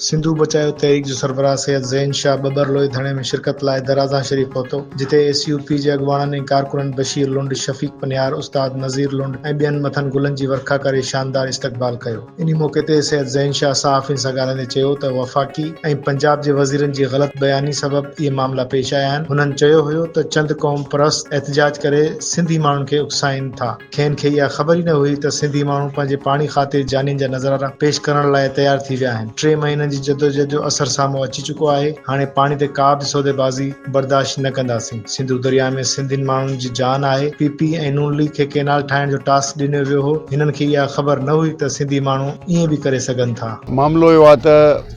سنڌو بچايو تحريڪ جو سربراهه سيد زين شاهه ٻٻر لوئي ڌرڻي ۾ شرڪت لاء درازان شريف پهتو، جتي ايس يو پي جي اڳواڻن ۽ ڪارڪنن بشير لنڊ، شفيق پنهيار، استاد نذير لنڊ ۽ ٻين مٿن گلن جي ورکا ڪري شاندار استقبال ڪيو. انهي موقعي تي سيد زين شاهه صحافين سان ڳالهائيندي چيو ته وفاقي ۽ پنجاب جي وزيرن جي غلط بياني سبب اهي معاملا پيش آيا آهن، هنن چيو هيو ته چند قوم پرست احتجاج ڪري سنڌي ماڻهن کي اڪسائين ٿا. کين کي اها خبر ئي نه هئي ته سنڌي ماڻهو پنهنجي پاڻي خاطر جانين جا نذرارا پيش ڪرڻ لاء تيار ٿي ويا آهن. ٽي مهينن جي جدوجهد جو اثر سامهون اچي چڪو آهي. هاڻي پاڻي تي ڪا به سوديبازي برداشت نه ڪنداسين. سنڌو درياء ۾ سنڌين ماڻهن جي جان آهي. پي پي ۽ نون ليگ کي ڪئنال ٺاهڻ جو ٽاسڪ ڏنيو ويو هو. هنن کي اها خبر نه هئي ته سنڌي ماڻهو ائين به ڪري سگهن ٿا. معاملو اهو آهي ته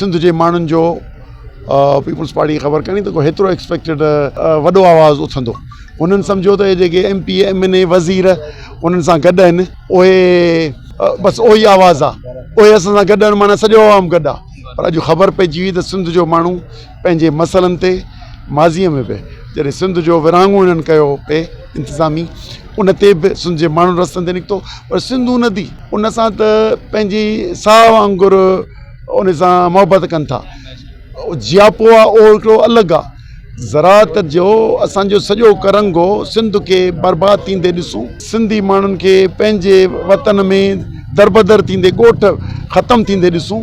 سنڌ جي ماڻهن جو پيپلز پارٽي کي خبر ڪاني ته ڪو هيترو ايڪسپيڪٽيڊ وڏو آواز اٿندو انهن سمجهيو ته هي جيڪي M P M N A وزير انهن سان گڏ آهن اهي بس اهو ئي آواز آهي اهي اسان سان گڏ آهن معنيٰ سڄو عوام گڏ آهي پر اڄ خبر پئجي وئي ته سنڌ جو ماڻهو پنهنجي مسئلن تي ماضيء ۾ به جڏهن سنڌ جو ورهاڱو هنن ڪيو هو پي انتظامي ان تي به سنڌ جي ماڻهن رستن تي نڪتو پر سنڌو ندي ان سان ته پنهنجي ساهه وانگر ان سان محبت ڪن ٿا جياپو آهي اهو هڪڙو الڳ آهي زراعت جو اسانجو سڄو ڪرنگهو سنڌ کي برباد ٿيندي ڏسون سنڌي ماڻهن کي پنهنجي وطن ۾ دربدر ٿيندي ڳوٺ ختم ٿيندي ڏسون